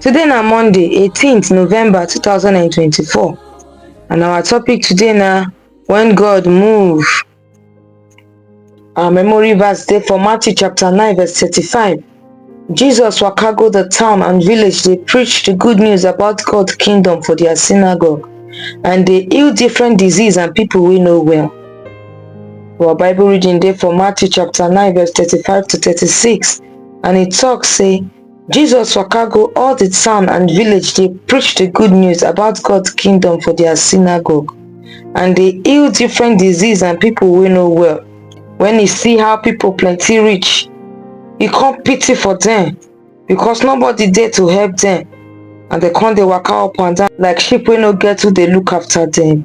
Today na Monday 18th November 2024 and our topic today na when God move. Our memory verse dey for Matthew chapter 9 verse 35. Jesus waka go the town and village dey preach the good news about God kingdom for their synagogue and dey heal different disease and people wey no well. Our Bible reading dey for Matthew chapter 9 verse 35 to 36 and e talk say Jesus waka go all the town and village dey preach the good news about God kingdom for their synagogue and dey heal different disease and people wey no well. When he see how people plenty reach, he come pity for them because nobody dey to help them and they come dey waka up and down like sheep wey no get who dey look after them.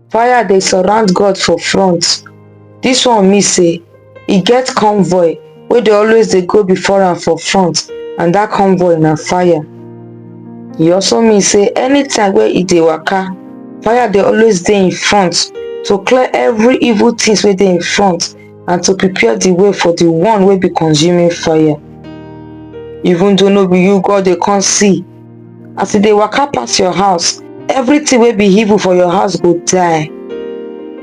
fire dey surround god for front this one mean say e get convoy wey dey always dey go before am for front and that convoy na fire e also mean say anytime wey e dey waka fire dey always dey in front to clear every evil things wey dey in front and to prepare the way for the one wey be consuming fire even though no be you god dey come see as e dey waka pass your house everything wey be evil for your house go die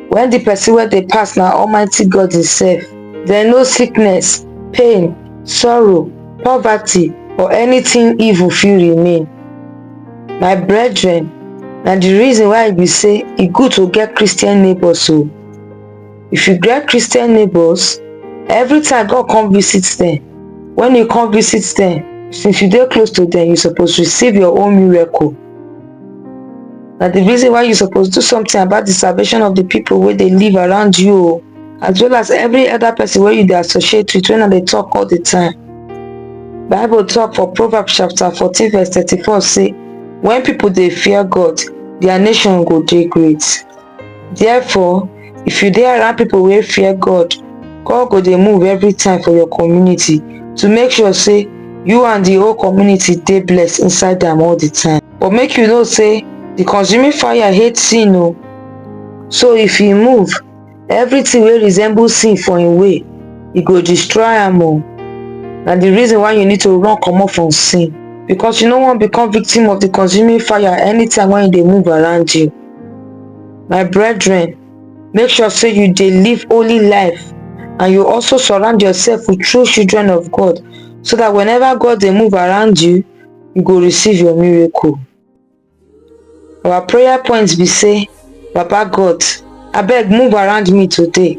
when the person wey dey pass na almighty god himself then no sickness pain sorrow poverty or anything evil fit remain my brethren na the reason why e be say e good to get christian neighbors o if you get christian neighbors every time god come visit them when you come visit them since you dey close to them you suppose receive your own miracle na the reason why you suppose do something about the salvation of the people wey dey live around you o as well as every other person wey you dey associate with when i dey talk all the time bible talk for proverbs chapter fourteen verse thirty-four say when people dey fear god their nation go dey great Therefore, if you dey around people wey fear God, God go dey move every time for your community to make sure say you and the whole community dey blessed inside am all the time. But make you know say the consuming fire hate sin o. So if e move, everything wey resemble sin for im way, e go destroy am o. Na the reason why you need to run comot from sin because you no wan become victim of the consuming fire anytime when e dey move around you. my brethren make sure say you dey live holy life and you also surround yourself with true children of god so that whenever god dey move around you you go receive your miracle our prayer points be say baba god abeg move around me today